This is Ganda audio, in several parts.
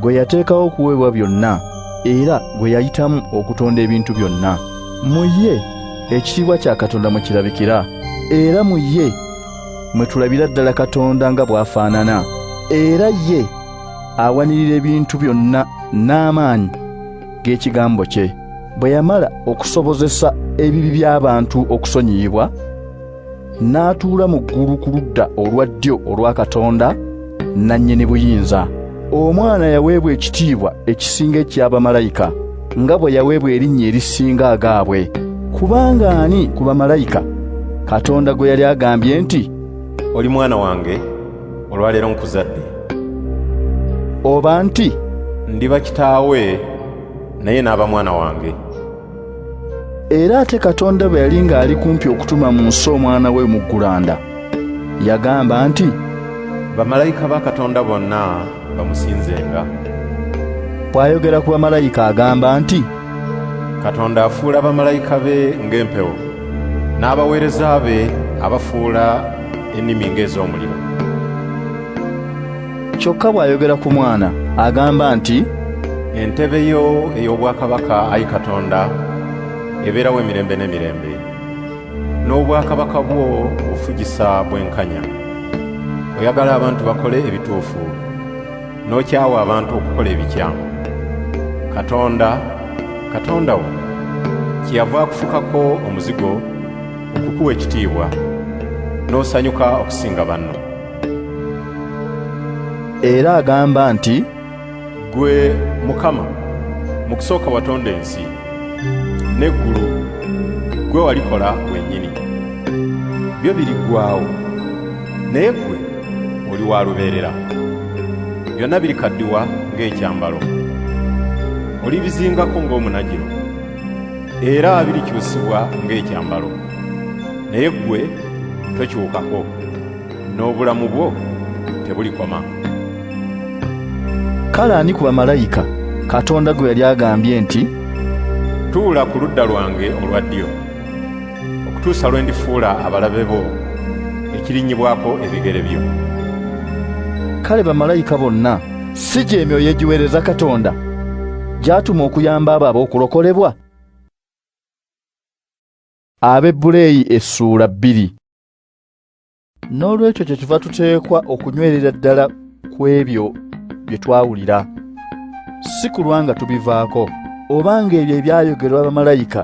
gwe yateekawo okuweebwa byonna era gwe yayitamu okutonda ebintu byonna mu ye ekitiibwa kya katonda mwe kirabikira era mu ye mwe tulabira ddala katonda nga bw'afaanana era ye awanirira ebintu byonna n'amaanyi g'ekigambo kye bwe yamala okusobozesa ebibi by'abantu okusonyiyibwa n'atuula mu ggulu ku ludda olwa ddyo olwa Katonda nannyini buyinza. Omwana yaweebwa ekitiibwa ekisinga eky'abamalayika, nga bwe yaweebwa erinnya erisinga agaabwe. Kubanga ani ku bamalayika Katonda gwe yali agambye nti, Oli mwana wange, olwaleero nkuzadde? Oba nti, Ndiba kitaawe, naye n'aba mwana wange? era ate katonda bwe yali ng'ali kumpi okutuma mu nsi omwana we mu ggulanda yagamba nti bamalayika ba katonda bonna bamusinzenga bw'ayogera ku bamalayika agamba nti katonda afuula bamalayika be ng'empewo n'abaweereza be abafuula ennimi ng'ez'omuliro kyokka bw'ayogera ku mwana agamba nti entebe yo ey'obwakabaka ayi katonda ebeerawo emirembe n'emirembe n'obwakabaka bwo ofugisa bwenkanya oyagala abantu bakole ebituufu n'okyawa abantu okukola ebikyamu katonda katonda wo kyeyava akufukako omuzigo okukuwa ekitiibwa n'osanyuka okusinga banno era agamba nti gwe mukama mu kusooka watonda ensi n'eggulu gwe walikola wennyini byo biriggwawo naye gwe oli wa lubeerera byonna birikaddiwa ng'ekyambalo olibizingako ng'omunagiro era birikyusibwa ng'ekyambalo naye gwe tokyukako n'obulamu bwo tebulikoma. Kale ani ku bamalayika Katonda gwe yali agambye nti, Tuula ku ludda lwange olwa ddyo, okutuusa lwe ndifuula abalabe bo ekirinnyibwako ebigere byo? Kale bamalayika bonna si gy'emyoyo egiweereza Katonda gy'atuma okuyamba abo ab'okulokolebwa? Abebbuleeyi essuula bbiri n'olwekyo kye tuva tuteekwa okunywerera ddala ku ebyo bye twawulira si kulwa nga tubivaako oba ng'ebyo ebyayogerwa bamalayika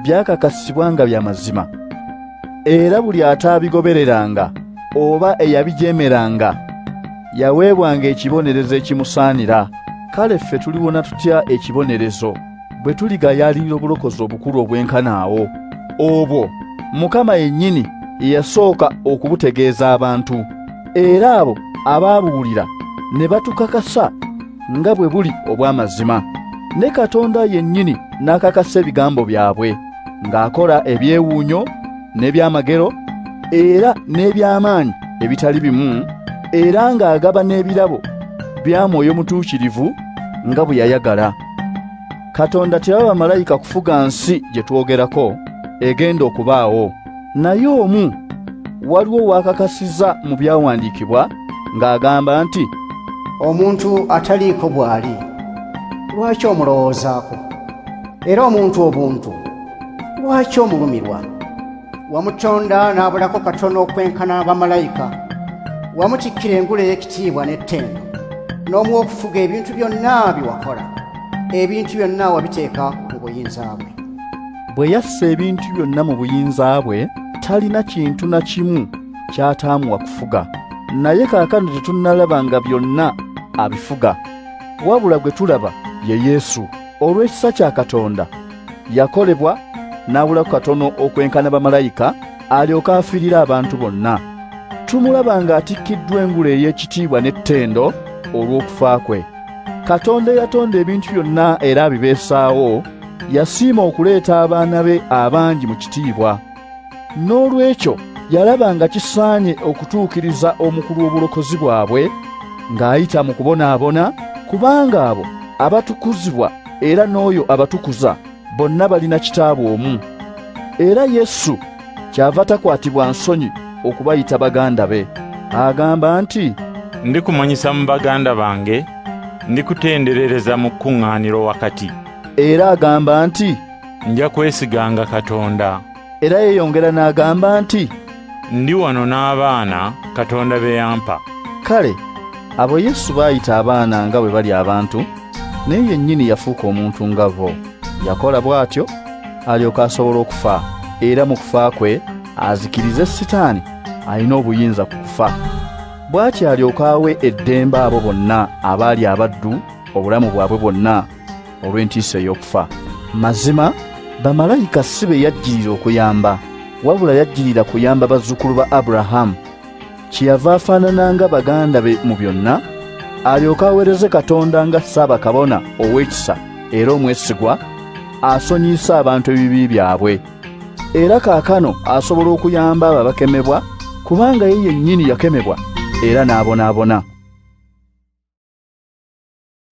byakakasibwa nga bya mazima era buli ataabigobereranga oba eyabijeemeranga yaweebwanga ekibonerezo ekimusaanira kale ffe tuliwona tutya ekibonerezo bwe tuligayaalirira obulokozi obukulu obwenkana awo obwo mukama yennyini yeyasooka okubutegeeza abantu era abo abaabuwulira ne batukakasa nga bwe buli obw'amazima ne katonda yennyini n'akakasa ebigambo byabwe ng'akola ebyewuunyo n'ebyamagero era n'eby'amaanyi ebitali bimu era ng'agaba n'ebirabo bya mwoyo mutuukirivu nga bwe yayagala katonda teyaba malayika kufuga nsi gye twogerako egenda okubaawo naye omu waliwo wakakasiza mu byawandiikibwa ng'agamba nti omuntu ataliiko bw'ali lwaki omulowoozaako era omuntu obuntu lwaki omulumirwa wamutonda n'abulako katono okwenkana bamalayika wamukikkira engule ey'ekitiibwa n'ettendo n'omuwa okufuga ebintu byonna bye wakola ebintu byonna wabiteeka mu buyinza bwe bwe yassa ebintu byonna mu buyinza bwe talina kintu na kimu ky'ataamuwa kufuga naye kaakano tetunnalaba nga byonna abifuga wabula gwe tulaba ye yesu olw'ekisa kya katonda yakolebwa n'abulaku katono okwenkana bamalayika alyoke afiirire abantu bonna tumulaba ng'atikkiddwa engule ey'ekitiibwa n'ettendo olw'okufa kwe katonda eyatonda ebintu byonna era abibeesaawo yasiima okuleeta abaana be abangi mu kitiibwa n'olwekyo yalaba nga kisaanye okutuukiriza omukulu w'obulokozi bwabwe ng'ayita mu kubonaabona kubanga abo abatukuzibwa era n'oyo abatukuza bonna balina kitaabu omu era yesu kyava takwatibwa nsonyi okubayita baganda be agamba nti ndikumanyisa mu baganda bange ndikutenderereza mu kuŋŋaaniro wakati era agamba nti nja kwesiganga katonda Era yeyongera n'agamba nti, Ndi wano n'abaana Katonda be yampa. Kale abo Yesu baayita abaana nga bwe bali abantu, naye yennyini yafuuka omuntu nga bo. Yakola bw'atyo alyoke asobole okufa, era mu kufa kwe azikirize Sitaani alina obuyinza ku kufa. Bw'atyo alyoke awe eddembe abo bonna abaali abaddu obulamu bwabwe bwonna. olw'entiisa ey'okufa mazima bamalayika si be yajjirira okuyamba wabula yajjirira kuyamba bazzukulu ba aburahamu kyeyava afaanana nga baganda be mu byonna alyoke aweereze katonda nga ssaabakabona ow'ekisa era omwesigwa asonyiyise abantu ebibi byabwe era kaakano asobola okuyamba abo abakemebwa kubanga ye yennyini yakemebwa era n'abonaabona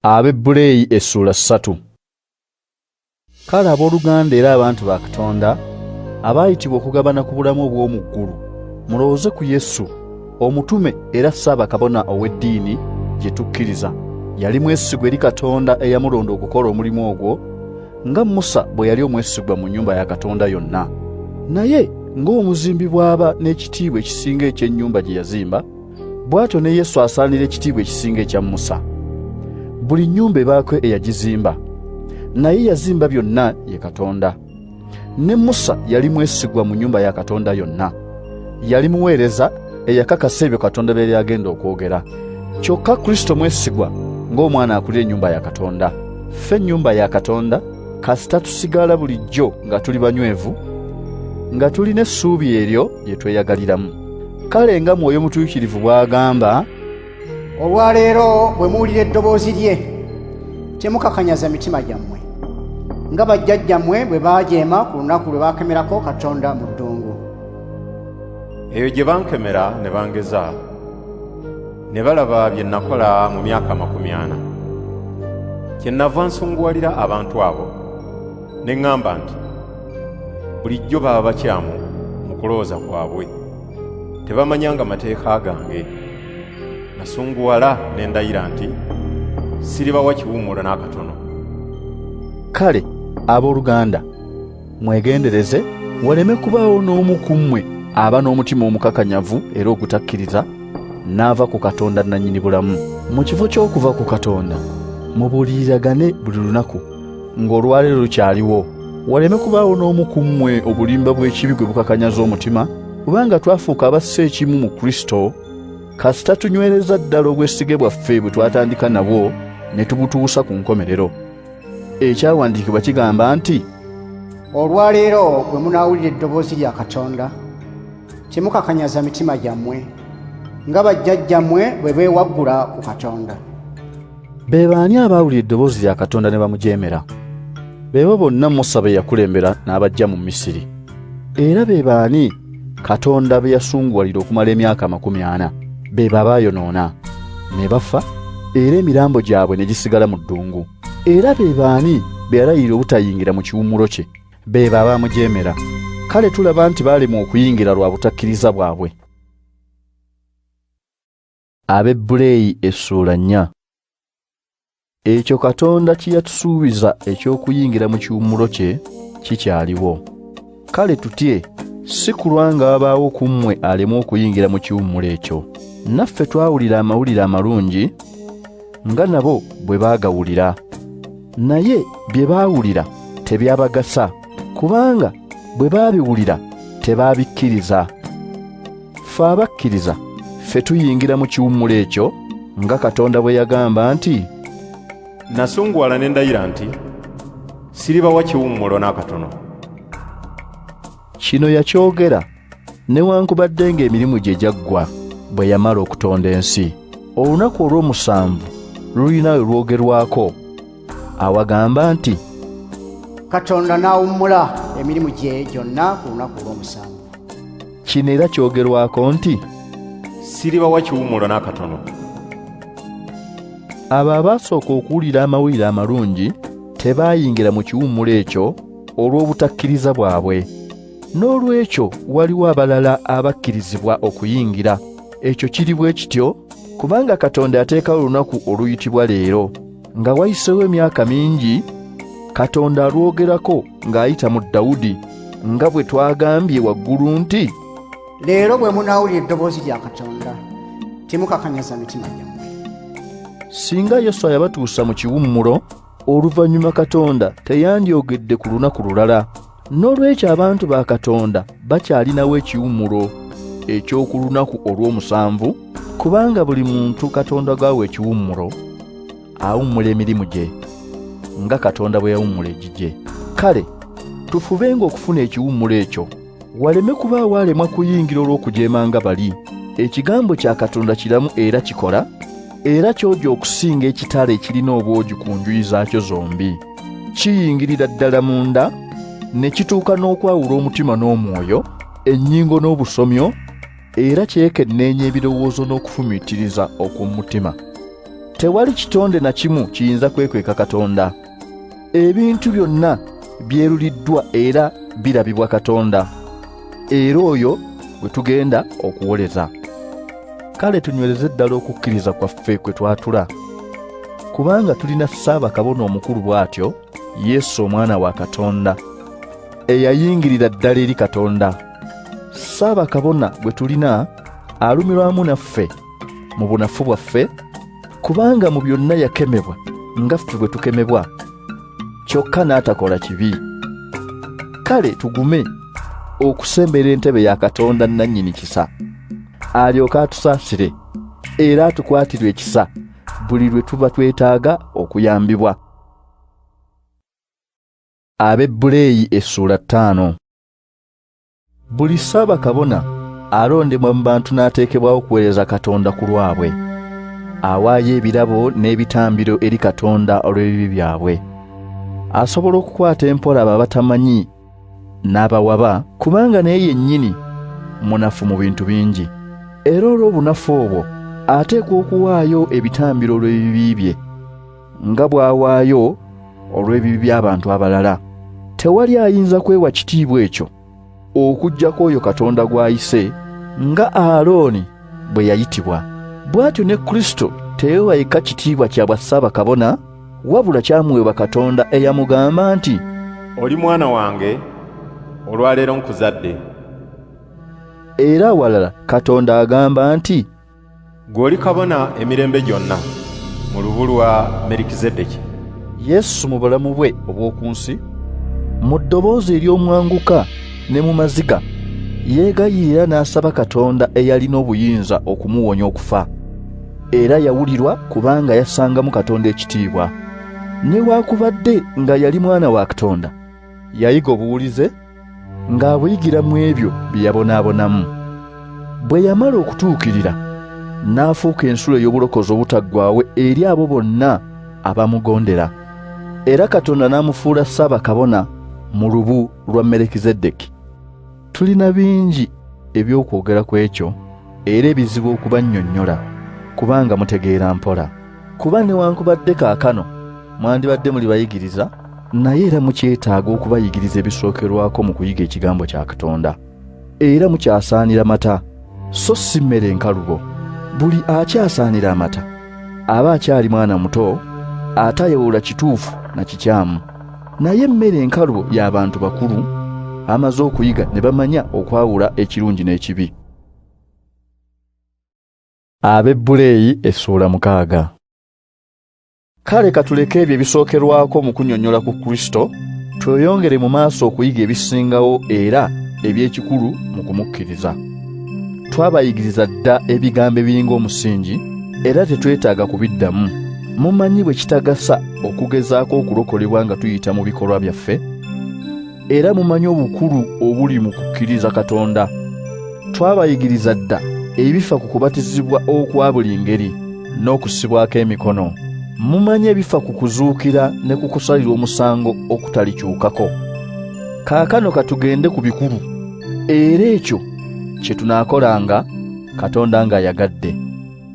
Abebbureeyi essuula ssatu. Kale abooluganda era abantu ba Katonda abaayitibwa okugabana ku bulamu obw'omu ggulu, mulowooze ku Yesu, omutume era ssaabakabona ow'eddiini gye tukkiriza. Yali mwesigwa eri Katonda eyamulonda okukola omulimu ogwo, nga Musa bwe yali omwesigwa mu nnyumba ya Katonda yonna. Naye ng'omuzimbi bw'aba n'ekitiibwa ekisinga eky'ennyumba gye yazimba, bw'atyo ne Yesu asaanira ekitiibwa ekisinga ekya Musa. Buli nnyumba ebaako eyagizimba, naye yazimba byonna ye Katonda. Ne Musa yali mwesigwa mu nnyumba ya Katonda yonna. Yali muweereza eyakakasa ebyo Katonda bye yali agenda okwogera. Kyokka Kristo mwesigwa ng'omwana akulira ennyumba ya Katonda. Ffe ennyumba ya Katonda kasita tusigala bulijjo nga tuli banywevu, nga tulina essuubi eryo, bye tweyagaliramu kale nga mwoyo mutuukirivu bw'agamba olwaleero bwe muwulira eddoboozi lye temukakanyaza mitima gyammwe nga bajjajjammwe bwe baajeema ku lunaku lwe baakemerako katonda mu ddungu eyo gye bankemera ne bangeza ne balaba bye nakola mu myaka amakumi ana kye nava nsunguwalira abantu abo Ne ŋŋamba nti, Bulijjo baba bakyamu mu kulowooza kwabwe, tebamanyanga mateeka gange. Nasunguwala ne ndayira nti, Siribawa kiwummulo n'akatono. Kale abooluganda, mwegendereze waleme kubaawo n'omu ku mmwe aba n'omutima omukakanyavu era ogutakkiriza n'ava ku Katonda nnannyini bulamu. Mu kifo ky'okuva ku Katonda, mubuuliriragane buli lunaku. ng'olwaleero lukyaliwo waleme kubaawo n'omu ku mmwe obulimba bw'ekibi gwe bukakanyaza omutima kubanga twafuuka abassa ekimu mu kristo kasita tunywereza ddala obwesige bwaffe bwe twatandika nabwo ne tubutuusa ku nkomerero ekyawandiikibwa kigamba nti olwaleero bwe munaawulira eddoboozi lya katonda temukakanyaza mitima gyammwe nga bajjajjammwe bwe beewaggula ku katonda Be baani abaawulira eddoboozi lya Katonda ne bamujeemera? Beebo bonna Musa be yakulembera n'abajja mu Misiri. Era be baani Katonda be yasunguwalira okumala emyaka amakumi ana? Beebo abaayonoona ne bafa era emirambo gyabwe ne gisigala mu ddungu. Era be baani be yalayirira obutayingira mu kiwummulo kye? Beebo abaamujeemera. Kale tulaba nti baalemwa okuyingira lwa butakkiriza bwabwe. Abebbuleeyi essuula nnya Ekyo Katonda kye yatusuubiza eky'okuyingira mu kiwummulo kye kikyaliwo. Kale tutye si kulwa nga wabaawo ku mmwe alemu okuyingira mu kiwummulo ekyo. Naffe twawulira amawulire amalungi nga nabo bwe baagawulira. Naye bye baawulira tebyabagasa, kubanga bwe baabiwulira tebaabikkiriza. Ffe abakkiriza ffe tuyingira mu kiwummulo ekyo nga Katonda bwe yagamba nti, Nasunguwala ne ndayira nti siribawa kiwummulo n'akatono. Kino yakyogera newankubadde ng'emirimu gye gyaggwa bwe yamala okutonda ensi. Olunaku olw'omusanvu lulina we lwogerwako. awagamba nti katonda n'awummula emirimu gye gyonna ku lunaku lw'omusanvu kino era kyogerwako nti siribawa kiwummulo n'akatono abo abaasooka okuwulira amawulire amalungi tebaayingira mu kiwummulo ekyo olw'obutakkiriza bwabwe n'olwekyo waliwo abalala abakkirizibwa okuyingira ekyo kiri bwe kityo kubanga katonda ateekawo olunaku oluyitibwa leero Nga wayiseewo emyaka mingi, Katonda alwogerako ng'ayita mu Dawudi, nga bwe twagambye waggulu nti, Leero bwe munaawulira eddoboozi lya Katonda, temukakanyaza mitima gyammwe. Singa Yoswa yabatuusa mu kiwummulo, oluvannyuma Katonda teyandyogedde ku lunaku lulala. N'olwekyo abantu ba Katonda bakyalinawo ekiwummulo eky'oku lunaku olw'omusanvu, kubanga buli muntu Katonda gwawa ekiwummulo awummula emirimu gye nga Katonda bwe yawummula egigye. Kale tufubenga okufuna ekiwummulo ekyo, waleme kubaawo alemwa kuyingira olw'okujeema nga bali. Ekigambo kya Katonda kiramu era kikola, era kyogi okusinga ekitala ekirina obwogi ku njuyi zaakyo zombi. kiyingirira ddala munda ne kituuka n'okwawula omutima n'omwoyo ennyingo n'obusomyo era kyekenneenya ebirowoozo n'okufumiitiriza okw'omu mutima tewali kitonde na kimu kiyinza kwekweka katonda ebintu byonna byeruliddwa era birabibwa katonda era oyo gwe tugenda okuwoleza kale tunywereze ddala okukkiriza kwaffe kwe twatula kubanga tulina ssaabakabona omukulu bw'atyo yesu omwana wa katonda eyayingirira ddala eri katonda ssaabakabona gwe tulina alumirwamu naffe mu bunafu bwaffe kubanga mu byonna yakemebwa nga ffe bwe tukemebwa kyokka n'atakola kibi kale tugume okusembera entebe ya katonda nannyini kisa alyoke atusaasire era atukwatirwe ekisa buli lwe tuba twetaaga okuyambibwa abebbuleeyi essuula ttaano Buli saba kabona alondebwa mu bantu n'ateekebwawo okuweereza Katonda ku lwabwe. Awaayo ebirabo n'ebitambiro eri Katonda olw'ebibi byabwe. Asobola okukwata empola abo abatamanyi n'abawaba, kubanga naye yennyini munafu mu bintu bingi. Era olw'obunafu obwo ateekwa okuwaayo ebitambiro olw'ebibi bye. nga bw'awaayo olw'ebibi by'abantu abalala. Tewali ayinza kwewa kitiibwa ekyo okuggyako oyo Katonda gw'ayise, nga Alooni bwe yayitibwa. Bw'atyo ne Kristo teyewa yekka kitiibwa kya bwa Ssaabakabona, wabula kyamuweebwa Katonda eyamugamba nti, Oli mwana wange, olwaleero nkuzadde. Era awalala Katonda agamba nti. Gwe oli kabona emirembe gyonna mu lubu lwa Merikizedeki. Yesu mu bulamu bwe obw'oku nsi. Mu ddoboozi ery'omwanguka ne mu maziga, yeegayirira n'asaba Katonda eyalina obuyinza okumuwonya okufa. Era yawulirwa kubanga yassangamu Katonda ekitiibwa. Newaakubadde nga yali Mwana wa Katonda, Yayiga obuwulize ng'abuyigira mu ebyo bye yabonaabonamu. Bwe yamala okutuukirira, n'afuuka ensulo ey'obulokozi obutaggwaawo eri abo bonna abamugondera, era Katonda n'amufuula Ssaabakabona mu lubu lwa Melekizedeki. Tulina bingi eby'okwogera ku ekyo era ebizibu okubannyonnyola kubanga mutegeera mpola. Kuba newankubadde kaakano mwandibadde muli bayigiriza, naye era mukyetaaga okubayigiriza ebisookerwako mu kuyiga ekigambo kya Katonda. Era mukyasaanira mata, so si mmere enkalubo. Buli akyasaanira amata aba akyali mwana muto, atayawula kituufu na kikyamu. naye emmere enkalu y'abantu bakulu amaze okuyiga ne bamanya okwawula ekirungi n'ekibi ab'ebbuleeyi essuula mukaaga kale katuleke ebyo ebisookerwako mu kunyonyola ku kristo tweyongere mu maaso okuyiga ebisingawo era eby'ekikulu mu kumukkiriza twabayigiriza dda ebigambo ebiringa omusingi era tetwetaaga kubiddamu mumanyi bwe kitagasa okugezaako okulokolebwa nga tuyita mu bikolwa byaffe era mumanyi obukulu obuli mu kukkiriza katonda twabayigiriza dda ebifa ku kubatizibwa okwa buli ngeri n'okusibwako emikono mumanyi ebifa ku kuzuukira ne ku kusalirwa omusango okutalikyukako kaakano katugende ku bikulu Era ekyo kye tunaakolanga Katonda ng'ayagadde.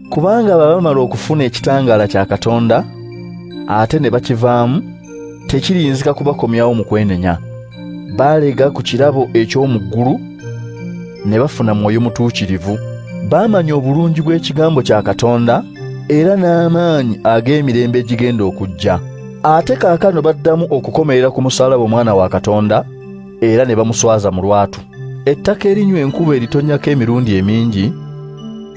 Kubanga baba bamala okufuna ekitangaala kya Katonda ate ne bakivaamu, tekiriyinzika kubakomyawo mu kwenenya. Baalega ku kirabo eky'omu ggulu ne bafuna mwoyo mutuukirivu. Baamanya obulungi bw'ekigambo kya Katonda era n'amaanyi ag'emirembe egigenda okujja. Ate kaakano baddamu okukomerera ku musaalaba Omwana wa Katonda, era ne bamuswaza mu lwatu. Ettaka erinywa enkuba eritonyako emirundi emingi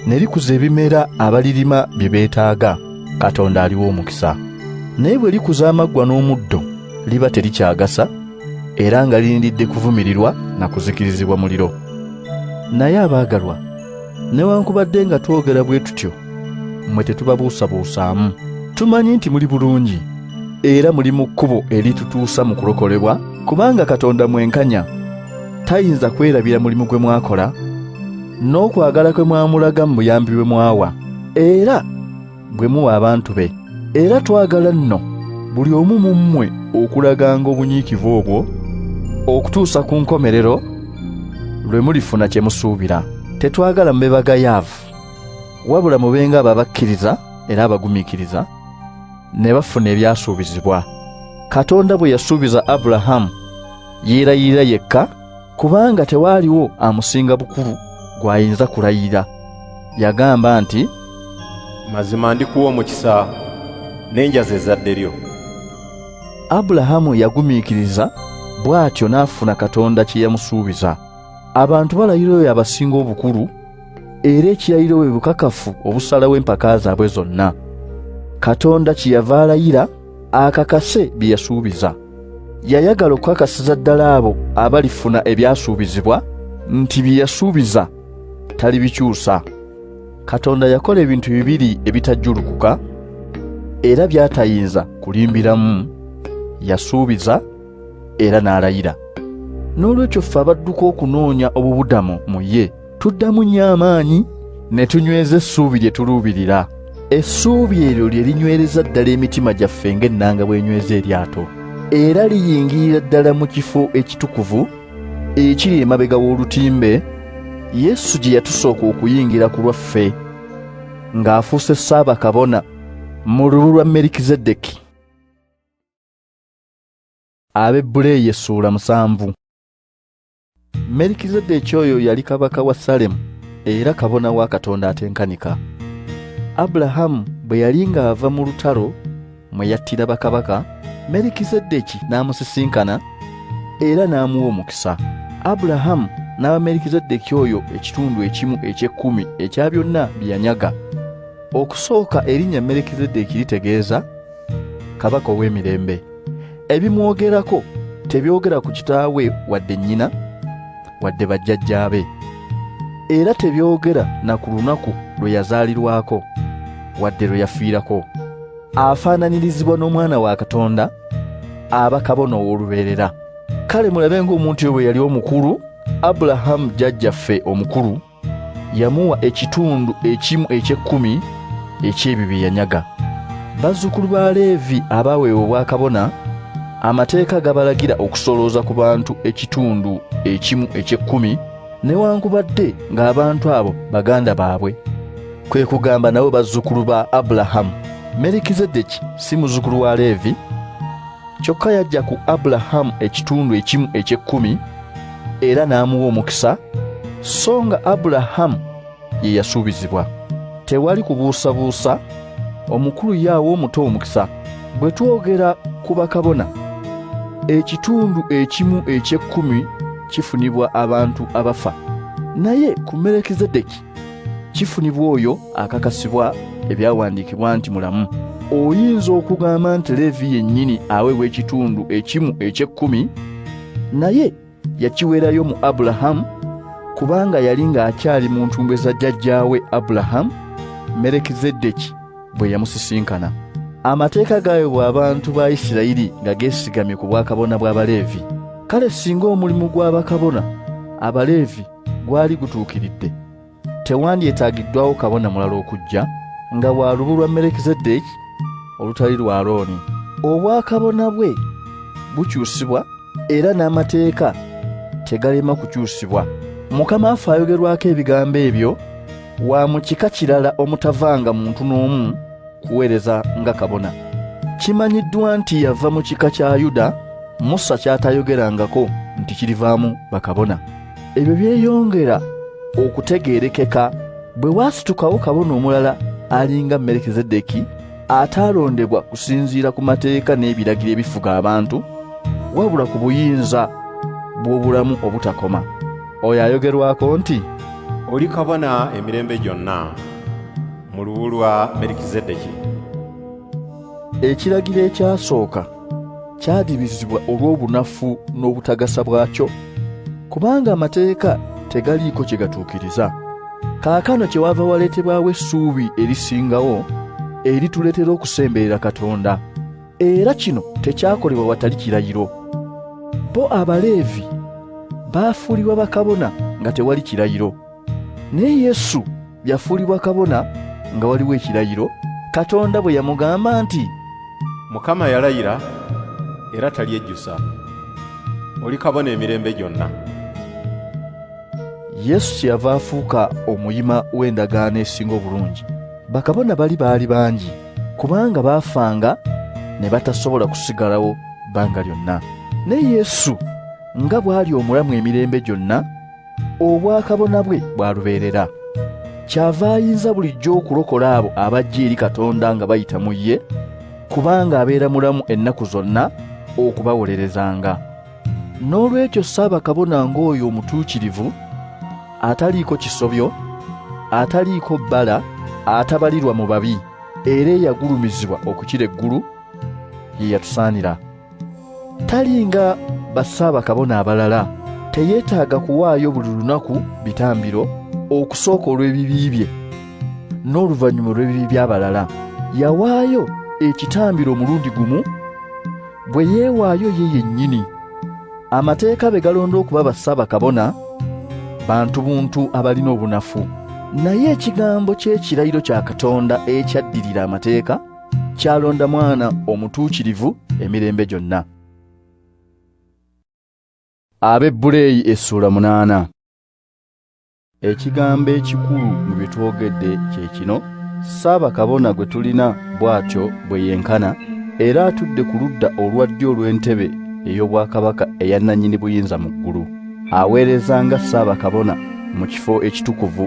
ne likuza ebimera abalirima bye beetaaga, Katonda aliwo omukisa. Naye bwe likuza amaggwa n'omuddo liba terikyagasa era nga lirindiridde kuvumirirwa na kuzikirizibwa muliro. Naye abaagalwa, newankubadde nga twogera bwe tutyo, mmwe tetubabuusabuusaamu tumanyi nti muli bulungi era muli mu kkubo eritutuusa mu kulokolebwa kubanga katonda mwenkanya tayinza kwerabira mulimu gwe mwakola n'okwagala kwe mwamulaga mu buyambi bwe mwawa era bwe muwa abantu be era twagala nno buli omu mu mmwe okulaganga obunyiikivu obwo okutuusa ku nkomerero lwe mulifuna kye musuubira tetwagala mube bagayaavu wabula mubenga abo abakkiriza era abagumiikiriza ne bafuna ebyasuubizibwa katonda bwe yasuubiza abulahamu yeerayirira yekka kubanga tewaaliwo amusinga bukulu gw'ayinza kulayira yagamba nti mazima ndikuwa omukisa n'enjaza ezadde lyo abulahamu yagumiikiriza bw'atyo n'afuna katonda kye yamusuubiza abantu balayira oyo abasinga obukulu era ekirayiro bwe bukakafu obusalawo empaka zaabwe zonna katonda kyeyava alayira akakase bye yasuubiza yayagala okukakasiza ddala abo abalifuna ebyasuubizibwa nti bye yasuubiza talibikyusa katonda yakola ebintu bibiri ebitajjulukuka era byatayinza kulimbiramu yasuubiza era n'alayira n'olwekyo ffe abadduka okunoonya obubudamo mu ye Tuddamu nnyo amaanyi ne tunyweza essuubi lye tuluubirira. Essuubi eryo lye linywereza ddala emitima gyaffe ng'ennanga bw'enyweza eryato, era liyingirira ddala mu kifo ekitukuvu ekiri emabega w'olutimbe Yesu gye yatusooka okuyingira ku lwaffe ng'afuuse ssaabakabona mu lubu lwa Merikizedeki. Abebbuleeyi essuula musanvu. merikizedeki oyo yali kabaka wa salemu era kabona wa katonda atenkanika abulahamu bwe yali ng'ava mu lutalo mwe yattira bakabaka merikizedeki n'amusisinkana era n'amuwa omukisa abulahamu n'aba merikizedeki oyo ekitundu ekimu eky'ekkumi ekya byonna bye yanyaga okusooka erinnya merikizedeki litegeeza kabaka ow'emirembe ebimwogerako tebyogera ku kitaawe wadde nnyina wadde bajjajjaabe era tebyogera na ku lunaku lwe yazaalirwako wadde lwe yafiirako afaananirizibwa n'omwana wa katonda aba kabona ow'olubeerera kale mulabe ng'omuntu oyo bwe yali omukulu abulahamu jjajjaffe omukulu yamuwa ekitundu ekimu eky'ekkumi eky'ebyo bye yanyaga bazzukulu ba leevi abaaweebwa obwakabona amateeka gabalagira okusolooza ku bantu ekitundu ekimu eky'ekkumi newankubadde ng'abantu abo baganda baabwe kwe kugamba nabo bazzukulu ba abulahamu merikizedeki si muzzukulu wa leevi kyokka yajja ku abulahamu ekitundu ekimu eky'ekkumi era n'amuwa omukisa so nga abulahamu ye yasuubizibwa tewali kubuusabuusa omukulu yaawa omuto omukisa bwe twogera ku bakabona ekitundu ekimu eky'ekkumi kifunibwa abantu abafa naye ku merekizedeki kifunibwa oyo akakasibwa ebyawandiikibwa nti mulamu oyinza okugamba nti leevi yennyini aweebwa ekitundu ekimu eky'ekkumi naye yakiweerayo mu abulahamu kubanga yali ng'akyali mu ntumbwe za jjajjaawe abulahamu merekizeddeki bwe yamusisinkana amateeka gaayobwa abantu ba isirayiri nga geesigamye ku bwakabona bw'abaleevi kale singa omulimu gw'abakabona abaleevi gwali gutuukiridde tewandyetaagiddwawo kabona mulala okujja nga wa lubu lwa merekizeddeeki olutali lwa looni obwakabona bwe bukyusibwa era n'amateeka tegalema kukyusibwa mukama affe ayogerwako ebigambo ebyo wa mu kika kirala omutavanga muntu n'omu kuweereza nga kabona kimanyiddwa nti yava mu kika kya yuda musa ky'atayogerangako nti kirivaamu bakabona ebyo byeyongera okutegeerekeka bwe waasitukawo kabona omulala alinga merekezedeki ataalondebwa kusinziira ku mateeka n'ebiragiro ebifuga abantu wabula ku buyinza bw'obulamu obutakoma oyo ayogerwako nti oli kabona emirembe gyonna mu lubu lwa merekezedeki ekiragiro ekyasooka kyadibizibwa olw'obunafu n'obutagasa bwakyo kubanga amateeka tegaliiko kye gatuukiriza kaakano kye wava waleetebwawo essuubi erisingawo erituleetera okusemberera katonda era kino tekyakolebwa watali kirayiro bo abaleevi baafuulibwa bakabona nga tewali kirayiro Naye Yesu yafuulibwa kabona nga waliwo ekirayiro Katonda bwe yamugamba nti, Mukama yalayira era talyejjusa, oli kabona emirembe gyonna. Yesu kyeyava afuuka omuyima w'endagaano esinga obulungi. Bakabona bali baali bangi kubanga baafanga ne batasobola kusigalawo bbanga lyonna. Naye Yesu nga bw'ali omulamu emirembe gyonna, obwakabona bwe bwalubeerera kyava ayinza bulijjo okulokola abo abajja eri katonda nga bayita mu ye kubanga abeera mulamu ennaku zonna okubawolerezanga n'olwekyo ssaabakabona ng'oyo omutuukirivu ataliiko kisobyo ataliiko bbala atabalirwa mu babi era eyagulumizibwa okukira eggulu ye yatusaanira talinga bassaabakabona abalala teyeetaaga kuwaayo buli lunaku bitambiro okusooka olw'ebibi bye n'oluvannyuma olw'ebibi by'abalala yawaayo ekitambiro omulundi gumu bwe yeewaayo ye yennyini amateeka be galonda okuba bassaabakabona bantu buntu abalina obunafu naye ekigambo ky'ekirayiro kya katonda ekyaddirira amateeka Kyalonda mwana omutuukirivu emirembe gyonna. Abebbuleeyi essuula munaana. Ekigambo ekikulu mu bye twogedde kye kino, Ssaabakabona gwe tulina bw'atyo bwe yenkana, era atudde ku ludda olwa ddyo olw'entebe ey'obwakabaka eya nnannyini buyinza mu ggulu. Aweereza nga Ssaabakabona mu kifo ekitukuvu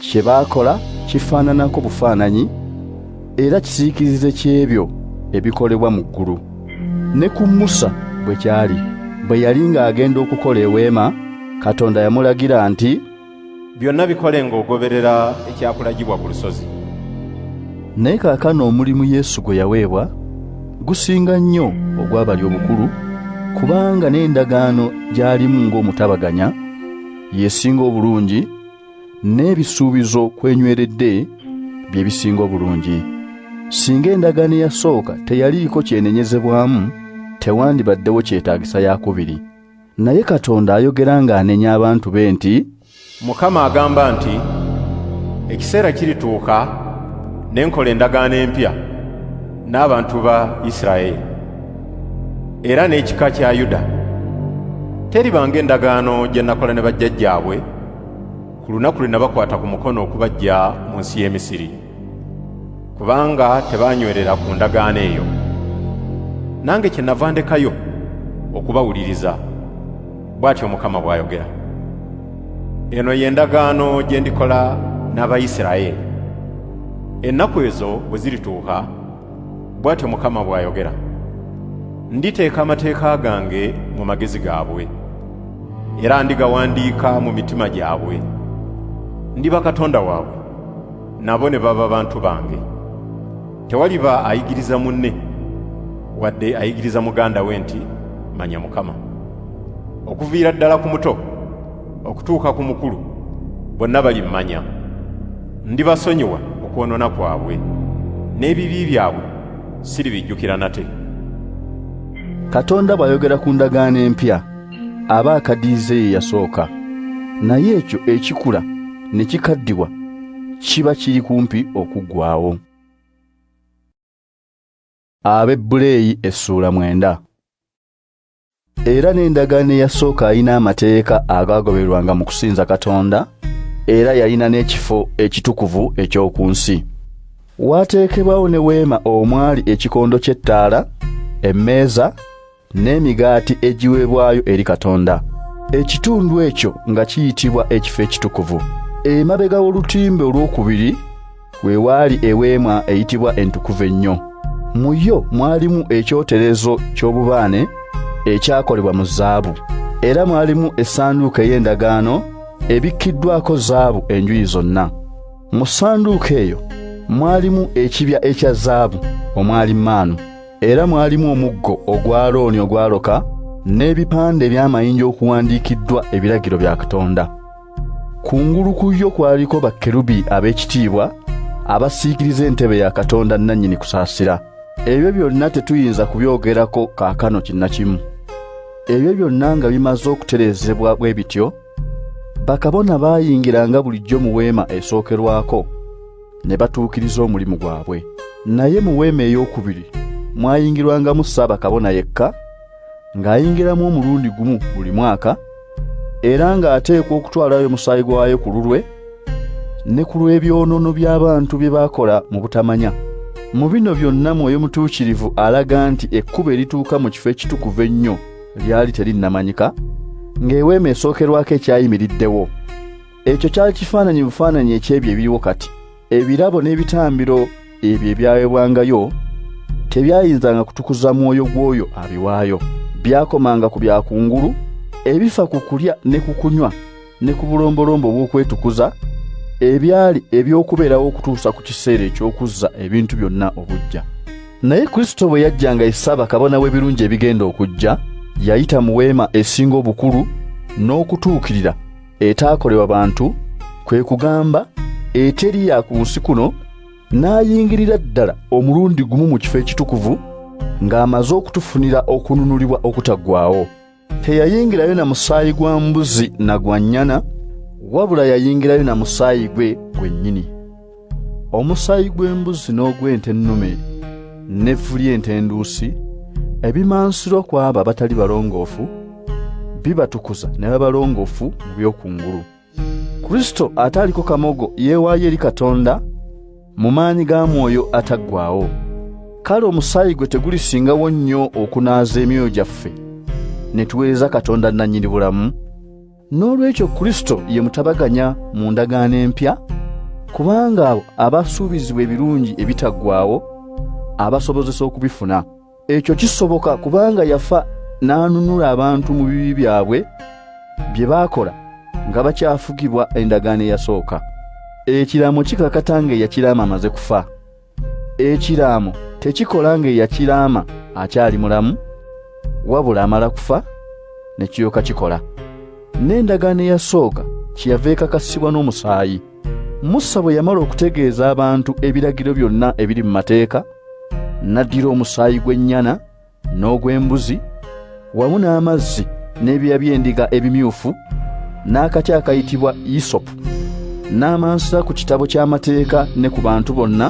Kye baakola kifaananako bufaananyi era kisiikirize ky'ebyo ebikolebwa mu ggulu. Ne ku Musa bwe kyali, bwe yali ng'agenda okukola eweema, Katonda yamulagira nti, Byonna bikole ng'ogoberera ekyakulagibwa ku lusozi. Naye kaakano omulimu Yesu gwe yaweebwa gusinga nnyo ogwa bali obukulu, kubanga n'endagaano gy'alimu ng'omutabaganya y'esinga obulungi, n'ebisuubizo kwenyweredde bye bisinga obulungi singa endagaano eyasooka teyaliiko kyenenyezebwamu tewandibaddewo kyetaagisa yakubiri naye katonda ayogera ng'anenya abantu be nti mukama agamba nti ekiseera kirituuka ne nkola endagaano empya n'abantu ba isiraeri era n'ekika kya yuda teribanga endagaano gye nakola ne bajjajjaabwe ku lunaku lwe nabakwata ku mukono okubajja mu nsi y'e misiri kubanga tebaanywerera ku ndagaano eyo nange kye nava ndekayo okubawuliriza bw'atyo mukama bw'ayogera eno ye ndagaano gye ndikola n'abayisirayeli ennaku ezo bwe zirituuka bw'atyo Mukama bw'ayogera, nditeeka amateeka gange mu magezi gaabwe, era ndigawandiika mu mitima gyabwe. Ndiba Katonda waabwe, nabo ne baba bantu bange. Tewaliba ayigiriza munne, wadde ayigiriza muganda we nti, Manya Mukama, okuviira ddala ku muto. okutuuka ku mukulu bonna balimmanya ndibasonyiwa okwonoona kwabwe n'ebibi byabwe siribijjukira nate katonda bw'ayogera ku ndagaano empya aba akadiize ye yasooka naye ekyo ekikula ne kikaddiwa kiba kiri kumpi okuggwawo ab'ebbuleeyi essuula mwenda Era n'endagaano eyasooka alina amateeka agaagoberwanga mu kusinza Katonda, era yalina n'ekifo ekitukuvu eky'oku nsi. Waateekebwawo ne weema omwali ekikondo ky'ettaala, emmeeza, n'emigaati egiweebwayo eri Katonda. Ekitundu ekyo nga kiyitibwa ekifo ekitukuvu. Emabega w'olutimbe olw'okubiri, we waali eweema eyitibwa entukuvu ennyo mu yo mwalimu ekyoterezo ky'obubaane ekyakolebwa mu zaabu era mwalimu essanduuko ey'endagaano ebikkiddwako zaabu enjuyi zonna mu ssanduuko eyo mwalimu ekibya ekya zaabu omwali maanu era mwalimu omuggo ogwa looni ogwaloka n'ebipande eby'amayinja okuwandiikiddwa ebiragiro bya katonda Ku ngulu ku yo kwaliko bakkerubi ab'ekitiibwa abasiikiriza entebe ya Katonda nnannyini kusaasira. Ebyo byonna tetuyinza kubyogerako kaakano kinnakimu. Ebyo byonna nga bimaze okutereezebwa bwe bityo, bakabona baayingiranga bulijjo mu weema esookerwako ne batuukiriza omulimu gwabwe. Naye mu weema ey'okubiri mwayingirwangamu Ssaabakabona yekka, ng'ayingiramu omulundi gumu buli mwaka era ng'ateekwa okutwalayo omusaayi gwayo ku lulwe ne ku lw'ebyonoono by'abantu bye baakola mu butamanya mu bino byonna mwoyo mutuukirivu alaga nti ekkubo erituuka mu kifo ekitukuvu ennyo lyali terinnamanyika ng'eweema esookerwako ekyayimiriddewo ekyo kyali kifaananyi bufaananyi eky'ebyo ebiriwo kati ebirabo n'ebitambiro ebyo ebyaweebwangayo tebyayinzanga kutukuza mwoyo gw'oyo abiwaayo byakomanga ku byakungulu ebifa ku kulya ne ku kunywa ne ku bulombolombo obw'okwetukuza ebyali eby'okubeerawo okutuusa ku kiseera eky'okuzza ebintu byonna obujja naye kristo bwe yajjanga esaaba kabona w'ebirungi ebigenda okujja yayita mu weema esinga obukulu n'okutuukirira etaakolebwa bantu kwe kugamba eteri ya ku nsi kuno n'ayingirira ddala omulundi gumu mu kifo ekitukuvu ng'amaze okutufunira okununulibwa okutaggwawo teyayingirayo na musaayi gwa mbuzi na gwa nnyana wabula yayingirayo na musaayi gwe gwennyini omusaayi gw'embuzi n'ogw'ente ennume n'evvu ly'ente enduusi ebimansirwa ku abo abatali balongoofu bibatukuza ne babalongoofu mu by'okungulu kristo ataaliko kamogo yeewaayo eri katonda mu maanyi ga mwoyo ataggwaawo kale omusaayi gwe tegulisingawo nnyo okunaaza emyoyo gyaffe ne tuweereza katonda nannyini bulamu N'olwekyo Kristo ye mutabaganya mu ndagaano empya, kubanga abo abasuubizibwa ebirungi ebitaggwaawo abasobozesa okubifuna. Ekyo kisoboka kubanga yafa n'anunula abantu mu bibi byabwe bye baakola nga bakyafugibwa endagaano eyasooka. Ekiraamo kikakata ng'eyakiraama amaze kufa. ekiraamo tekikola nga eyakiraama akyali mulamu wabula amala kufa ne kiyoka kikola n'endagaano eyasooka kyeyava ekakasibwa n'omusaayi musa bwe yamala okutegeeza abantu ebiragiro byonna ebiri mu mateeka n'addira omusaayi gw'ennyana n'ogw'embuzi wamu n'amazzi n'ebyoya by'endiga ebimyufu n'akati akayitibwa yisopu n'amansa ku kitabo ky'amateeka ne ku bantu bonna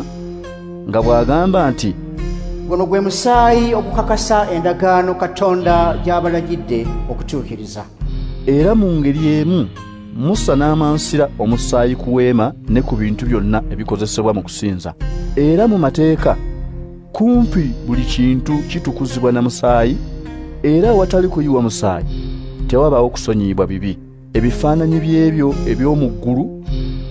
nga bw'agamba nti guno gwe musaayi ogukakasa endagaano katonda gy'abalagidde okutuukiriza era mu ngeri emu musa n'amansira omusaayi ku weema ne ku bintu byonna ebikozesebwa mu kusinza era mu mateeka kumpi buli kintu kitukuzibwa na musaayi era awatali kuyiwa musaayi tewabaawo kusonyiyibwa bibi ebifaananyi by'ebyo eby'omu ggulu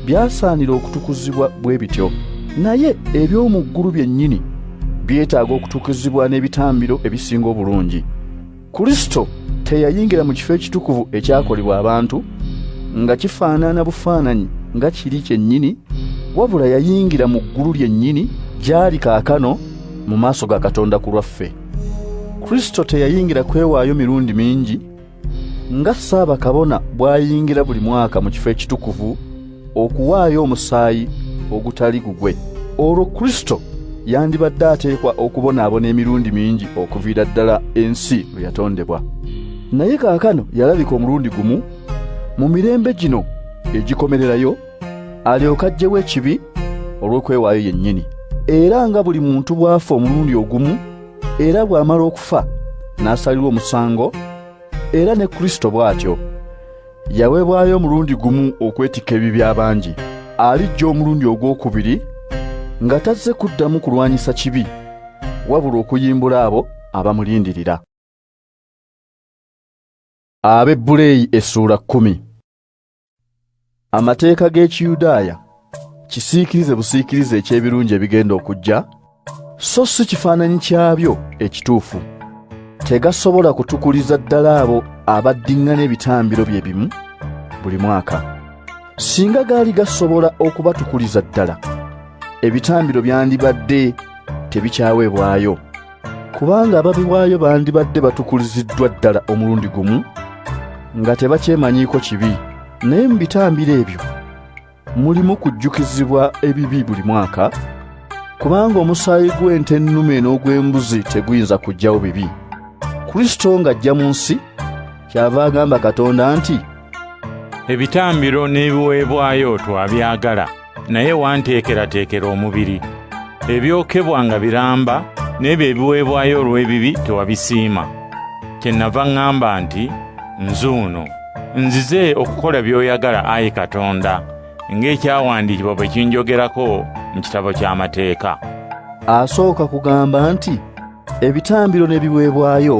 byasaanira okutukuzibwa bwe bityo naye eby'omu ggulu byennyini byetaaga okutukuzibwa n'ebitambiro ebisinga obulungi Kristo teyayingira mu kifo ekitukuvu ekyakolebwa abantu nga kifaanana bufaananyi nga kiri kyennyini, wabula yayingira mu ggulu lyennyini gy'ali kaakano mu maaso ga Katonda ku lwaffe. Kristo teyayingira kwewaayo mirundi mingi nga ssaabakabona bw'ayingira buli mwaka mu kifo ekitukuvu, okuwaayo omusaayi ogutali gugwe olwo kristo yandibadde ateekwa okubonaabona emirundi mingi okuviira ddala ensi lwe yatondebwa naye kaakano yalabika omulundi gumu mu mirembe gino egikomererayo alyoke ajjewo ekibi olw'okwewaayo yennyini era nga buli muntu bw'afa omulundi ogumu era bw'amala okufa n'asalirwa omusango era ne kristo bw'atyo Yaweebwayo omulundi gumu okwetikka ebibi abangi, alijja omulundi ogw'okubiri nga tazze kuddamu kulwanyisa kibi wabula okuyimbula abo abamulindirira. Abebbuleeyi essuula kkumi. Amateeka g'Ekiyudaaya kisiikirize busiikirize eky'ebirungi ebigenda okujja so si kifaananyi kyabyo ekituufu tegasobola kutukuliza ddala abo abaddiŋŋana ebitambiro bye bimu buli mwaka singa gaali gasobola okubatukuliza ddala ebitambiro byandibadde tebikyaweebwayo kubanga ababiwaayo bandibadde batukuliziddwa ddala omulundi gumu nga tebakyemanyiiko kibi naye mu bitambiro ebyo mulimu kujjukizibwa ebibi buli mwaka kubanga omusaayi gw'ente ennume n'ogw'embuzi teguyinza kujjawo bibi kristo ng'ajja mu nsi kyava agamba katonda nti ebitambiro n'ebiweebwayo twabyagala naye wanteekerateekera omubiri ebyokebwa nga biramba n'ebyo ebiweebwayo olw'ebibi tewabisiima kye nava ŋŋamba nti nzuuno Nzize okukola by'oyagala ayi Katonda, ng'ekyawandiikibwa bwe kinjogerako mu kitabo ky'amateeka. Asooka kugamba nti ebitambiro n'ebiweebwayo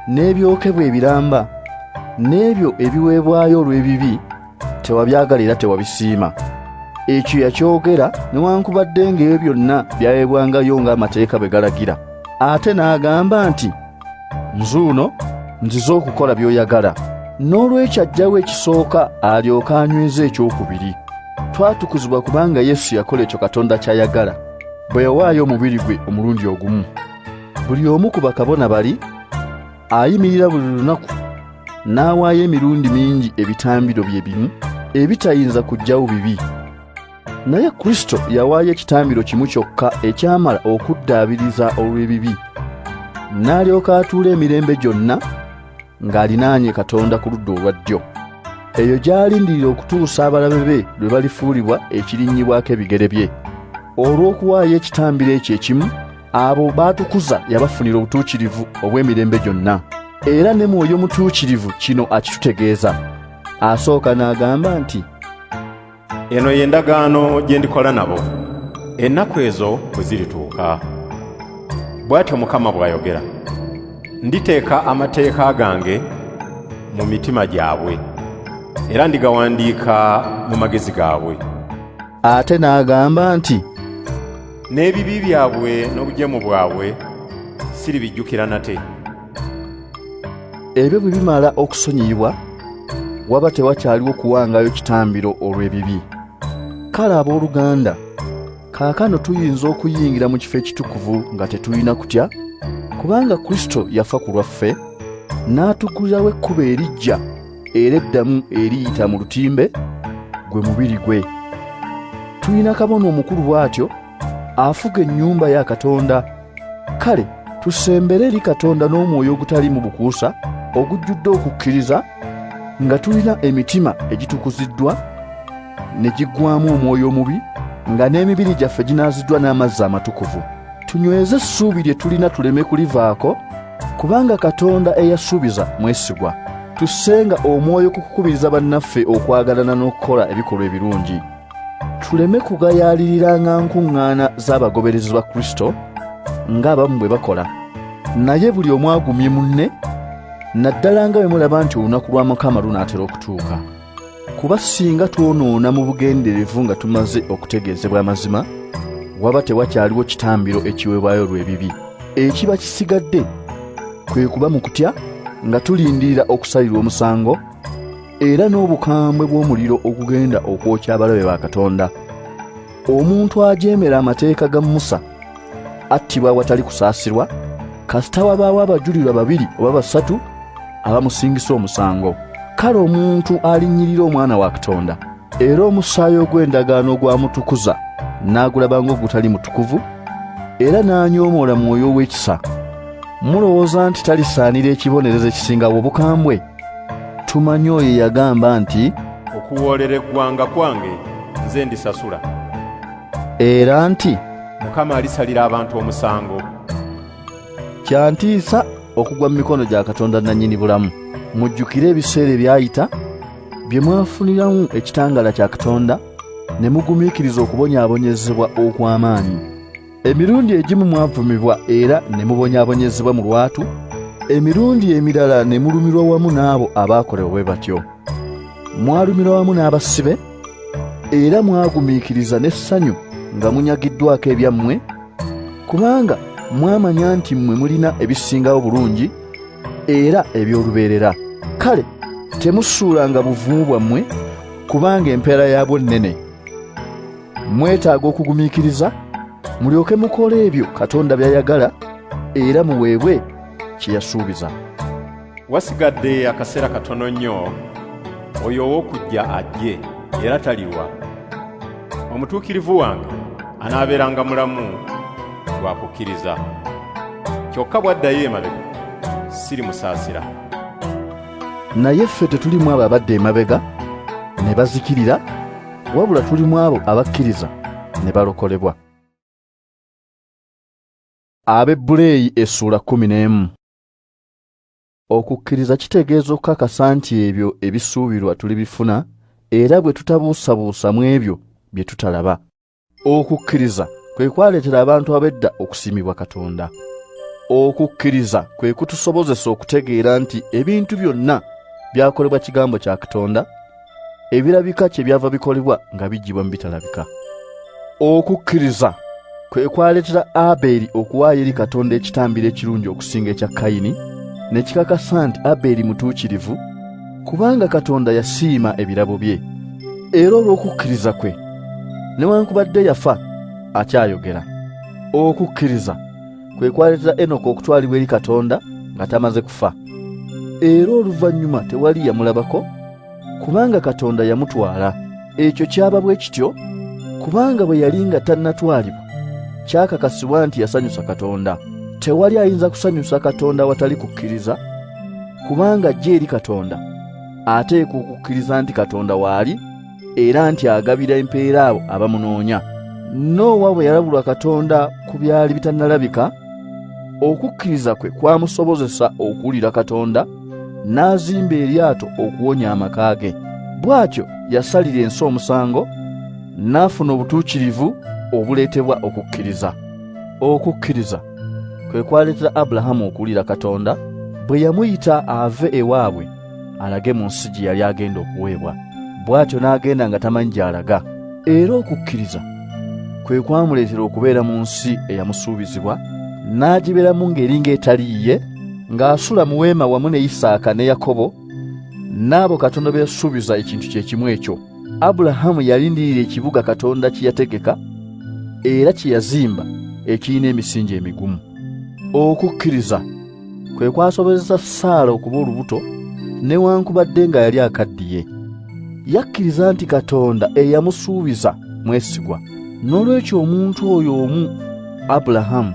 n'ebyokebwa ebiramba n'ebyo ebiweebwayo olw'ebibi tewabyagala era tewabisiima. Ekyo yakyogera newankubadde ng'ebyo byonna byaweebwangayo ng'amateeka bwe galagira. Ate n'agamba nti nzuuno nzize okukola by'oyagala n'olwekyo ajjawo ekisooka alyoke anyweza ekyokubiri twatukuzibwa kubanga yesu yakola ekyo katonda ky'ayagala bwe yawaayo omubiri gwe omulundi ogumu buli omu ku bakabona bali ayimirira buli lunaku n'awaayo emirundi mingi ebitambiro bye bimu ebitayinza kujjawo bibi naye kristo yawaayo ekitambiro kimu kyokka ekyamala okuddaabiriza olw'ebibi n'alyoka atuula emirembe gyonna ng'alinaanye katonda ku ludda olwa ddyo eyo gy'alindirira okutuusa abalabe be lwe balifuulibwa ekirinnyibwako ebigere bye olw'okuwaayo ekitambiro ekyo ekimu abo baatukuza yabafunira obutuukirivu obw'emirembe gyonna era ne mwoyo mutuukirivu kino akitutegeeza asooka n'agamba nti Eno ye ndagaano gye ndikola nabo ennaku ezo bwe zirituuka, bw'atyo Mukama bw'ayogera, nditeeka amateeka gange mu mitima gyabwe era ndigawandiika mu magezi gaabwe. Ate n'agamba nti, N'ebibi byabwe n'obujeemu bwabwe siribijjukira nate. ebyo bwe bimala okusonyiyibwa waba tewakyaliwo kuwangayo kitambiro olw'ebibi kale ab'oluganda kaakano tuyinza okuyingira mu kifo ekitukuvu nga tetulina kutya kubanga kristo yafa ku lwaffe n'atukulirawo ekkubo erijja era eddamu eriyita mu lutimbe gwe mubiri gwe tulina kabona omukulu bw'atyo afuga ennyumba ya katonda kale tusembere eri katonda n'omwoyo ogutaliimu bukuusa ogujjudde okukkiriza nga tulina emitima egitukuziddwa ne giggwamu omwoyo omubi nga n'emibiri gyaffe ginaaziddwa n'amazzi amatukuvu tunyweze essuubi lye tulina tuleme kulivaako kubanga katonda eyasuubiza mwesigwa tussenga omwoyo ku kukubiriza bannaffe okwagalana n'okukola ebikolwa ebirungi tuleme kugayaaliriranga nkuŋŋaana z'abagoberezi ba kristo ng'abamu bwe bakola naye buli omu agumye munne naddala nga bwe mulaba nti olunaku lwa mukama lunaatera okutuuka kuba singa twonoona mu bugenderevu nga tumaze okutegeezebwa amazima waba tewakyaliwo kitambiro ekiweebwayo olw'ebibi ekiba kisigadde kwe kuba mu kutya nga tulindirira okusalirwa omusango era n'obukambwe bw'omuliro ogugenda okwokya abalabe ba katonda omuntu ajeemera amateeka ga musa attibwa awatali kusaasirwa kasita wabaawo abajulirwa babiri oba basatu abamusingisa omusango kale omuntu alinnyirira omwana wa katonda era omusaayi ogw'endagaano ogwamutukuza n'agulaba ng'ogutali mutukuvu era n'anyoomoola mwoyo ow'ekisa mulowooza nti talisaanira ekibonerezo ekisingawo obukambwe tumanyi oyo yagamba nti okuwoolera eggwanga kwange nze ndisasula era nti mukama alisalira abantu omusango kyantiisa okugwa mu mikono gya katonda nannyini bulamu mujjukire ebiseera ebyayita bye mwafuniramu ekitangaala kya katonda ne mugumiikiriza okubonyaabonyezebwa okw'amaanyi emirundi egimu mwavumibwa era ne mubonyaabonyezebwa mu lwatu emirundi emirala ne mulumirwa wamu n'abo abaakolewa bwe batyo mwalumirwa wamu n'abasibe era mwagumiikiriza n'essanyu nga munyagiddwako ebyammwe kubanga mwamanya nti mmwe mulina ebisingawo bulungi era eby'olubeerera kale temusuulanga buvumu bwammwe kubanga empeera yaabwo nnene mwetaaga okugumiikiriza mulyoke mukola ebyo katonda byayagala era muweebwe kye yasuubiza wasigadde akaseera katono nnyo oyo ow'okujja ajje era taliwa omutuukirivu wange anaabeeranga mulamu lwa kukkiriza kyokka bw'addayo emabega siri musaasira naye ffe tetulimu abo abadde emabega ne bazikirira wabula tuli mu abo abakkiriza ne balokolebwa abebbuleeyi essuula kumi n'emu okukkiriza kitegeeza okukakasa nti ebyo ebisuubirwa tulibifuna era bwe tutabuusabuusa mu ebyo bye tutalaba Okukkiriza kwe kwaleetera abantu ab'edda okusiimibwa Katonda. Okukkiriza kwe kutusobozesa okutegeera nti ebintu byonna byakolebwa kigambo kya Katonda, ebirabika kye byava bikolebwa nga biggyibwa mu bitalabika. Okukkiriza kwe kwaleetera Abeeri okuwaayo eri Katonda ekitambiro ekirungi okusinga ekya Kayini, ne kikakasa nti Abeeri mutuukirivu, kubanga katonda yasiima ebirabo bye era olw'okukkiriza kwe newankubadde yafa akyayogera okukkiriza kwe kwaleetera enoka okutwalibwa eri katonda nga tamaze kufa era oluvannyuma tewali yamulabako kubanga katonda yamutwala Ekyo kyaba bwe kityo kubanga bwe yali nga tannatwalibwa kyakakasibwa nti yasanyusa Katonda. Tewali ayinza kusanyusa Katonda watali kukkiriza kubanga ajja eri Katonda ateekwa okukkiriza nti Katonda waali era nti agabira empeera abo abamunoonya. Noowa bwe yalabulwa Katonda ku byali bitannalabika, okukkiriza kwe kwamusobozesa okuwulira Katonda n'azimba eryato okuwonya amaka ge bw'atyo yasalira ensi omusango n'afuna obutuukirivu obuleetebwa okukkiriza okukkiriza kwe kwaleetera abulahamu okuwulira katonda bwe yamuyita ave ewaabwe alage mu nsi gye yali agenda okuweebwa bw'atyo n'agenda nga tamanyi gy'alaga era okukkiriza kwe kwamuleetera okubeera mu nsi eyamusuubizibwa n'agibeeramu ng'eri ng'etali yiye ng'asula mu weema wamu ne Isaaka ne Yakobo n'abo Katonda be yasuubiza ekintu kye kimu ekyo. Abulahamu yalindirira ekibuga Katonda kye yategeka era kye yazimba ekirina emisingi emigumu. Okukkiriza kwe kwasobozesa Saala okuba olubuto newankubadde nga yali akaddiye. Yakkiriza nti Katonda eyamusuubiza mwesigwa. N'olwekyo omuntu oyo omu Abulahamu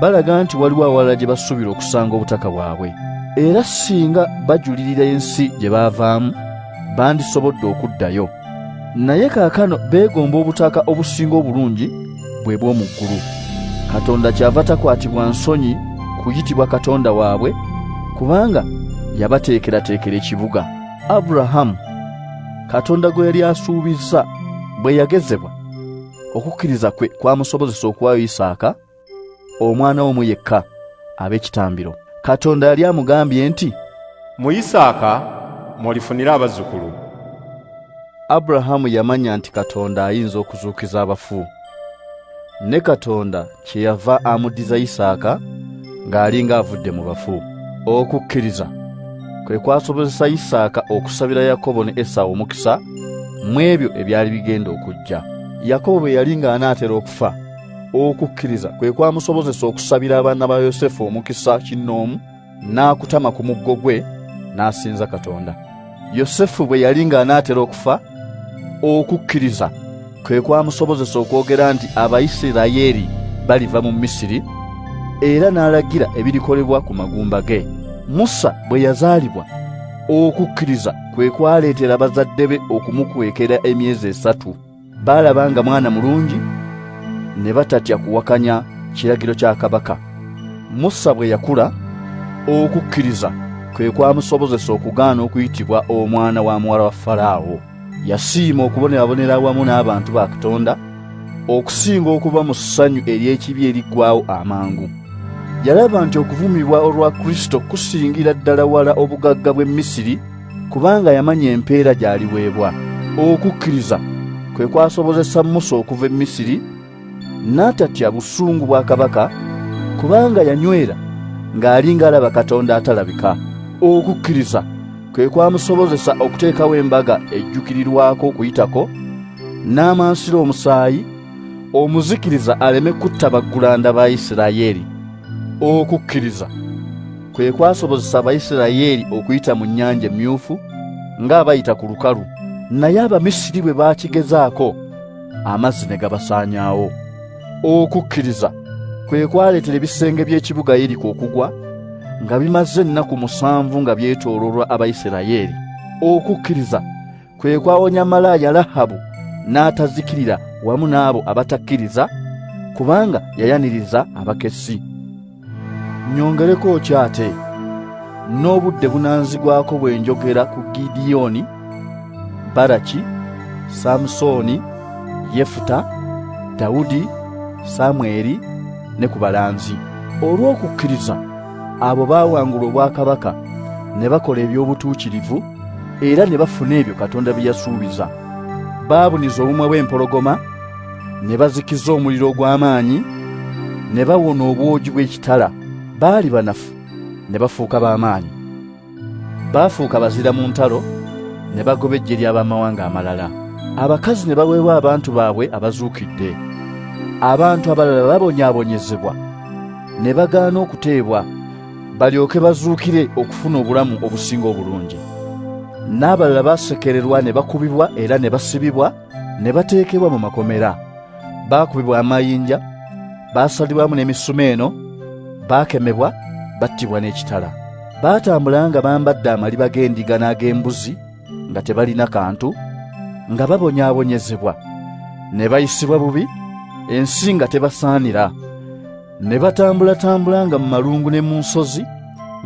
balaga nti waliwo awalala gye basuubira okusanga obutaka bwabwe era singa bajulirira ensi gye baavaamu bandisobodde okuddayo naye kaakano beegomba obutaka obusinga obulungi bwe bw'omu ggulu katonda kyava takwatibwa nsonyi kuyitibwa katonda waabwe kubanga yabateekerateekera ekibuga aburahamu katonda gwe yali asuubizza bwe yagezebwa okukkiriza kwe kwamusobozesa okuwayo isaaka omwana omu yekka ab'ekitambiro katonda yali amugambye nti mu isaaka mwolifunira abazzukulu aburahamu yamanya nti katonda ayinza okuzuukiza abafu ne katonda kyeyava amuddiza Isaaka ng'alinga avudde mu bafu. Okukkiriza kwe kwasobozesa Isaaka okusabira Yakobo ne Esawu omukisa mu ebyo ebyali bigenda okujja. Yakobo bwe yali ng'anaatera okufa, okukkiriza kwe kwamusobozesa okusabira abaana ba Yosefu omukisa kinnoomu. n'akutama ku muggo gwe n'asinza Katonda. Yosefu bwe yali ng'anaatera okufa, okukkiriza kwe kwamusobozesa okwogera nti Abayisirayeli baliva mu Misiri era n'alagira ebirikolebwa ku magumba ge. Musa bwe yazaalibwa, okukkiriza kwe kwaleetera bazadde be okumukwekera emyezi esatu. Baalaba nga mwana mulungi ne batatya kuwakanya kiragiro kya kabaka. Musa bwe yakula, okukkiriza kwe kwamusobozesa okugaana okuyitibwa omwana wa muwala wa Falaawo. Yasiima okubonerabonera awamu n'abantu ba Katonda okusinga okuba mu ssanyu ery'ekibi eriggwawo amangu. Yalaba nti okuvumibwa olwa Kristo kusingira ddala wala obugagga bw'e Misiri kubanga yamanya empeera gy'aliweebwa. Okukkiriza kwe kwasobozesa Musa okuva e Misiri n'atatya busungu bwa kabaka, kubanga yanywera ng'ali ng'alaba Katonda atalabika. Okukkiriza kwe kwamusobozesa okuteekawo embaga ejjukirirwako okuyitako n'amansira omusaayi omuzikiriza aleme kutta baggulanda ba Isirayeeri. Okukkiriza. kwe kwasobozesa Abayisirayeli okuyita mu nnyanja emmyufu ng'abayita ku lukalu, naye Abamisiri bwe baakigezaako amazzi ne gabasaanyaawo. Okukkiriza kwe kwaleetera ebisenge by'ekibuga Yeriko okugwa nga bimaze ennaku musanvu nga byetoololwa Abayisirayeli. Okukkiriza kwe kwawonya malaaya Lahabu n'atazikirira wamu n'abo abatakkiriza kubanga yayaniriza abakessi nyongereko ki ate n'obudde bunanzigwako bwe njogera ku gidiyoni baraki samusooni yefuta dawudi samweri ne ku balanzi olw'okukkiriza abo baawangula obwakabaka ne bakola eby'obutuukirivu era ne bafuna ebyo katonda bye yasuubiza baabuniza obumwa bw'empologoma ne bazikiza omuliro ogw'amaanyi ne bawona obwogi bw'ekitala baali banafu ne bafuuka b'amaanyi baafuuka bazira mu ntalo ne bagoba eggye ly'abamawanga amalala abakazi ne baweebwa abantu baabwe abazuukidde abantu abalala babonyaabonyezebwa ne bagaana okuteebwa balyoke bazuukire okufuna obulamu obusinga obulungi n'abalala baasekererwa ne bakubibwa era ne basibibwa ne bateekebwa mu makomera baakubibwa amayinja baasalibwamu n'emisuma eno baakemebwa battibwa n'ekitala baatambula nga bambadde amaliba g'endiga n'ag'embuzi nga tebalina kantu nga babonyaabonyezebwa ne bayisibwa bubi ensi nga tebasaanira ne batambulatambula nga mu malungu ne mu nsozi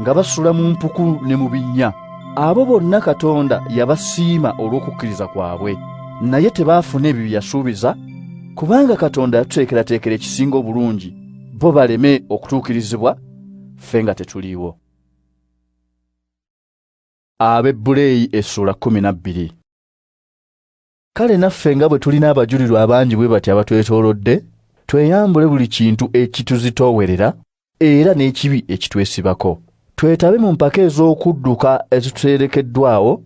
nga basula mu mpuku ne mu binnya abo bonna katonda yabasiima olw'okukkiriza kwabwe naye tebaafuna ebyo bye yasuubiza kubanga katonda yatuteekerateekera ekisinga obulungi bo baleme okutuukirizibwa ffe nga tetuliiwo ab'ebbuleeyi essuula kkumi na bbiri Kale naffe nga bwe tulina abajulirwa abangi bwe bati abatwetoolodde, tweyambule buli kintu ekituzitoowerera era n'ekibi ekitwesibako. Twetabe mu mpaka ez'okudduka ezituteerekeddwawo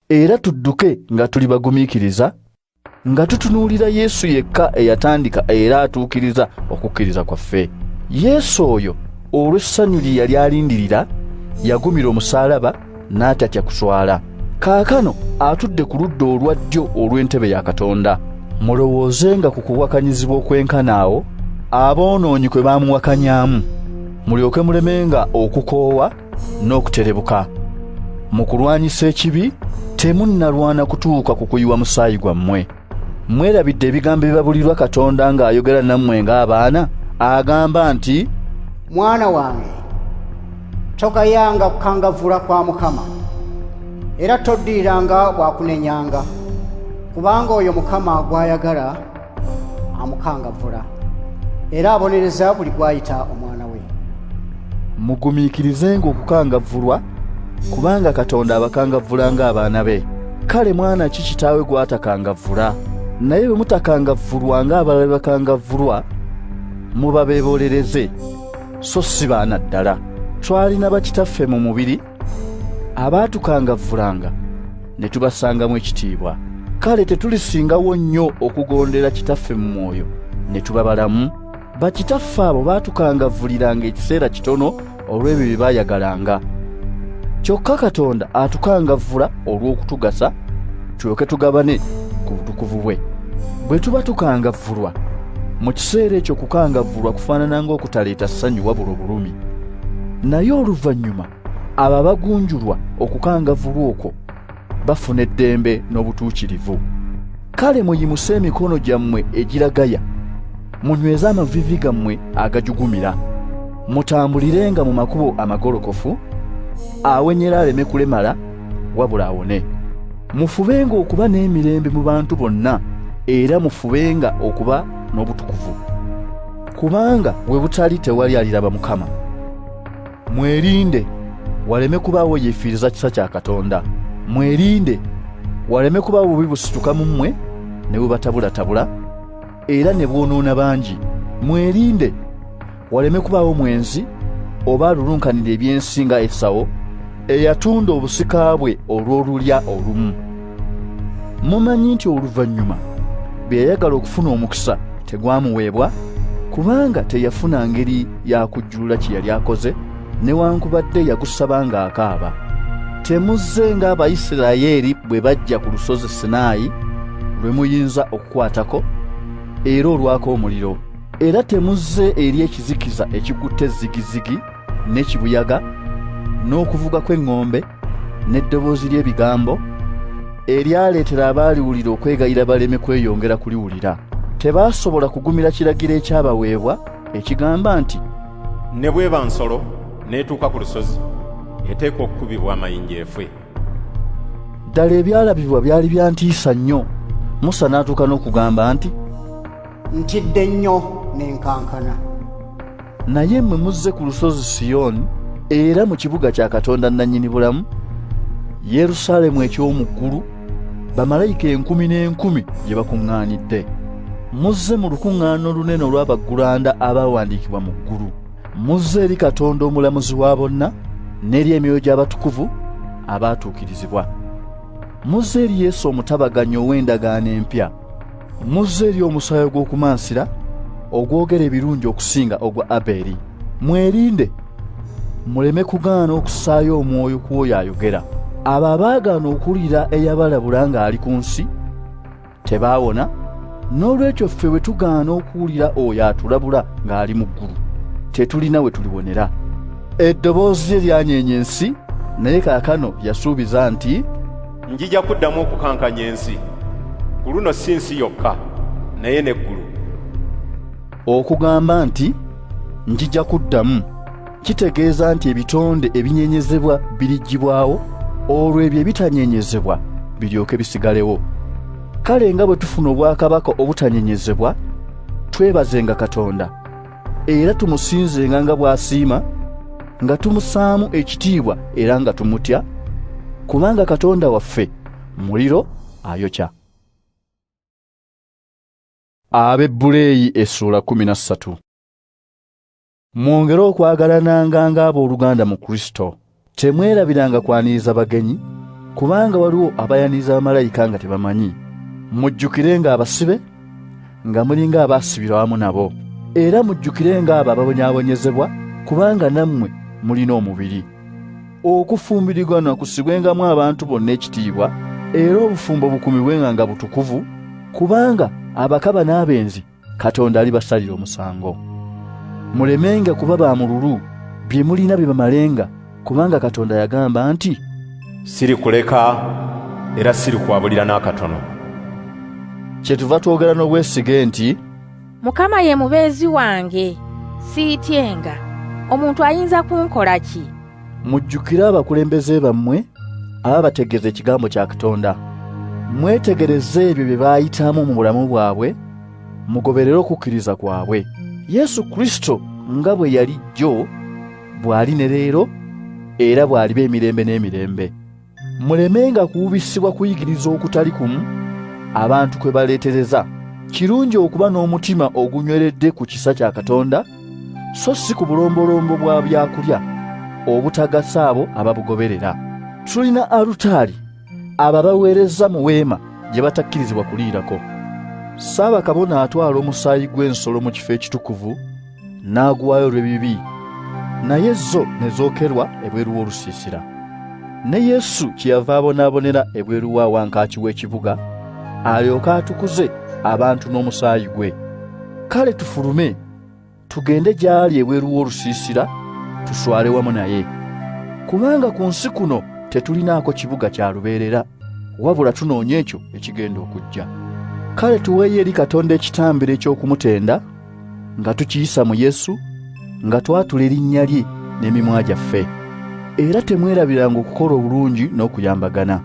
era tudduke nga tuli bagumiikiriza, nga tutunuulira Yesu yekka eyatandika era atuukiriza okukkiriza kwaffe. Yesu oyo olw'essanyu lye yali alindirira, yagumira omusaalaba, n'atatya kuswala kaakano atudde ku ludda olwa ddyo olw'entebe ya katonda mulowoozenga ku kuwakanyizibwa okwenkana awo aboonoonyi kwe baamuwakanyamu mulyoke mulemenga okukoowa n'okuterebuka mu kulwanyisa ekibi temunnalwana kutuuka ku kuyiwa musaayi gwammwe mwerabidde ebigambo ebibabulirwa katonda ng'ayogera nammwe ng'abaana agamba nti mwana wange togayanga kukangavvula kwa mukama era toddiriranga bwakunenyanga kubanga oyo mukama gw'ayagala amukangavvula era abonereza buli gw'ayita omwana we mugumiikirizenga okukangavvulwa kubanga katonda abakangavvula ng'abaana be kale mwana ki kitaawe gwatakangavvula naye bwe mutakangavvulwa ng'abalala be bakangavvulwa muba beebolereze so si baana ddala twalina bakitaffe mu mubiri abaatukangavvulanga ne tubasangamu ekitiibwa kale tetulisingawo nnyo okugondera kitaffe mu mwoyo ne tuba balamu Bakitaffe abo baatukangavvuliranga ekiseera kitono olw'ebyo bye baayagalanga. Kyokka Katonda atukangavvula olw'okutugasa tulyoke tugabane ku butukuvu bwe. Bwe tuba tukangavvulwa, mu kiseera ekyo okukangavvulwa kufaanana ng'okutaleeta ssanyu wabula obulumi. Naye oluvannyuma abo abagunjulwa okukangavvulwa okwo bafuna eddembe n'obutuukirivu kale muyimuse emikono gyammwe egiragaya munyweze amavivi gammwe agajugumira mutambulirenga mu makubo amagolokofu awenyera aleme kulemala wabula awone mufubenga okuba n'emirembe mu bantu bonna era mufubenga okuba n'obutukuvu kubanga we butali tewali aliraba mukama Mwerinde waleme kubaawo yeefiiriza kisa kya Katonda. Mwerinde waleme kubaawo bubi busituka mu mmwe ne bubatabulatabula era ne bwonoona bangi. Mwerinde waleme kubaawo mwenzi oba alulunkanira eby'ensi nga Esawo eyatunda obusika bwe olw'olulya olumu. mumanyi nti oluvannyuma bwe yayagala okufuna omukisa tegwamuweebwa kubanga teyafuna ngeri yakujjulula kye yali akoze newankubadde yagusaba ng'akaaba temuzze ng'abaisirayeeri bwe bajja ku lusozi sinaayi lwe muyinza okukwatako era olwako omuliro era temuzze eri ekizikiza ekikutte zigizigi ne kibuyaga n'okuvuga kw'eŋŋombe n'eddoboozi ly'ebigambo eryaleetera abaaliwulira okwegayira baleme kweyongera kuliwulira. Tebaasobola kugumira kiragiro ekyabaweebwa ekigamba nti, Ne bw'eba nsolo n'etuuka ku lusozi, eteekwa okukubibwa amayinja efe. Ddala ebyalabibwa byali bya ntiisa nnyo, Musa n'atuuka n'okugamba nti, Ntidde nnyo ne nkankana. naye mwe muzze ku lusozi siyoni era mu kibuga kya katonda nannyini bulamu yerusalemu eky'omu ggulu bamalayika enkumi n'enkumi gye bakuŋŋaanidde muzze mu lukuŋŋaana olunene olw'abaggulanda abaawandiikibwa mu ggulu muzze eri katonda omulamuzi wa bonna n'eri emyoyo gy'abatukuvu abaatuukirizibwa muzze eri yesu omutabaganyi ow'endagaano empya muzze eri omusaayi ogw'okumansira ogwogera ebirungi okusinga ogwa abeeri mwerinde muleme kugaana okusaayo omwoyo ku oyo ayogera abo abaagaana okuwulira eyabalabula ng'ali ku nsi tebaawona n'olwekyo ffe bwe tugaana okuwulira oyo atulabula ng'ali mu ggulu tetulina we tuliwonera eddoboozi lye lyanyeenya ensi naye kaakano yasuubiza nti njija kuddamu okukankanya ensi ku luno si nsi yokka naye n'eggulu okugamba nti njija kuddamu kitegeeza nti ebitonde ebinyenyezebwa biriggyibwawo olwo ebyo ebitanyenyezebwa biryoke bisigalewo kale nga bwe tufuna obwakabaka obutanyenyezebwa twebazenga katonda era tumusinzenga nga bw'asiima nga tumusaamu ekitiibwa era nga tumutya kubanga katonda waffe muliro ayokya abebbuleeyi essuula kumi na ssatu mwongere okwagalananga ng'abooluganda mu kristo Temwerabiranga kwaniriza bagenyi, kubanga waliwo abayaniriza bamalayika nga tebamanyi. Mujjukirenga abasibe, nga mulinga abaasibirwa awamu nabo, era mujjukirenga abo ababonyaabonyezebwa, kubanga nammwe mulina omubiri. Okufumbiriganwa kussibwengamu abantu bonna ekitiibwa, era obufumbo bukuumibwenga nga butukuvu, kubanga abakaba n'abenzi katonda alibasalira omusango mulemenga kuba ba mululu bye mulina bibamalenga kubanga katonda yagamba nti siri kuleka era siri kwabulira n'akatono kyetuva twogera n'obwesige nti mukama ye mubeezi wange siityenga omuntu ayinza kunkola ki mujjukire abakulembeze bammwe ababategeeza ekigambo kya katonda mwetegereze ebyo bye baayitamu mu bulamu bwabwe mugoberere okukkiriza kwabwe yesu kristo nga bwe yali jjo bw'ali ne leero era bw'aliba emirembe n'emirembe mulemenga kuwubisibwa kuyigiriza okutali kumu abantu kwe baleetereza kirungi okuba n'omutima ogunyweredde ku kisa kya katonda so si ku bulombolombo bwa byakulya obutagasa abo ababugoberera tulina alutaali abo abaweereza mu weema gye batakkirizibwa kuliirako saabakabona atwala omusaayi gw'ensolo mu kifo ekitukuvu n'aguwaayo olw'ebibi naye zo ne zookerwa ebweru w'olusiisira ne yesu kyeyava abonaabonera ebweru wa wankaaki w'ekibuga alyoke atukuze abantu n'omusaayi gwe kale tufulume tugende gy'ali ebweru w'olusiisira tuswale wamu naye kubanga ku nsi kuno tetulinaako kibuga kya lubeerera wabula tunoonya ekyo ekigenda okujja kale tuweeyo eri katonda ekitambiro eky'okumutenda nga tukiyisa mu Yesu nga twatula erinnya lye n'emimwa gyaffe era temwerabiranga okukola obulungi n'okuyambagana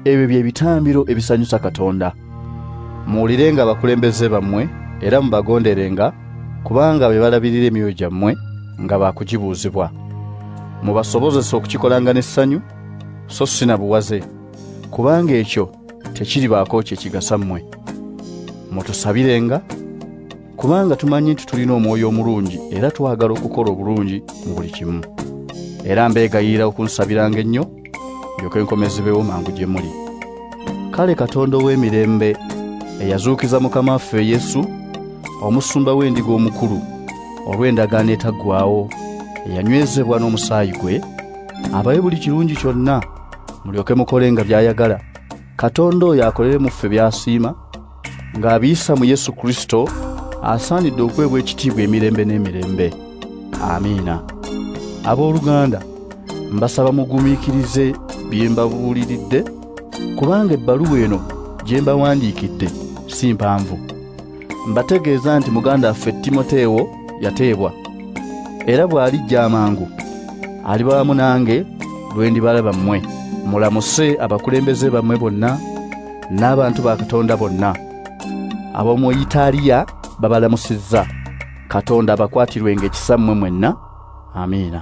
ebyo bye bitambiro ebisanyusa Katonda muwulirenga abakulembeze bammwe era mubagonderenga kubanga be balabirira emyoyo gyammwe nga baakugibuuzibwa mubasobozesa okukikolanga n'essanyu so si na buwaze kubanga ekyo tekiribaako kye kigasa mmwe mutusabirenga kubanga tumanyi nti tulina omwoyo omulungi era twagala okukola obulungi mu buli kimu era mbeegayiira okunsabiranga ennyo ndyoke enkomezebewo mangu gye muli kale katonda ow'emirembe eyazuukiza mukama waffe yesu omusumba w'endiga omukulu olw'endagaano etaggwawo eyanywezebwa n'omusaayi gwe abawe buli kirungi kyonna mulyoke mukole nga byayagala katonda oyo akolere mu ffe byasiima ng'abiyisa mu yesu kristo asaanidde okuweebwa ekitiibwa emirembe n'emirembe amiina abooluganda mbasaba mugumiikirize bye mbabuuliridde kubanga ebbaluwa eno gye mbawandiikidde si mpanvu mbategeeza nti muganda affe timoteewo yateebwa era bw'alijja amangu aliba wamu nange lwe ndibalaba mmwe mulamuse abakulembeze bammwe bonna n'abantu ba katonda bonna ab'omu itaaliya babalamusizza katonda abakwatirwenga ekisa mmwe mwenna amiina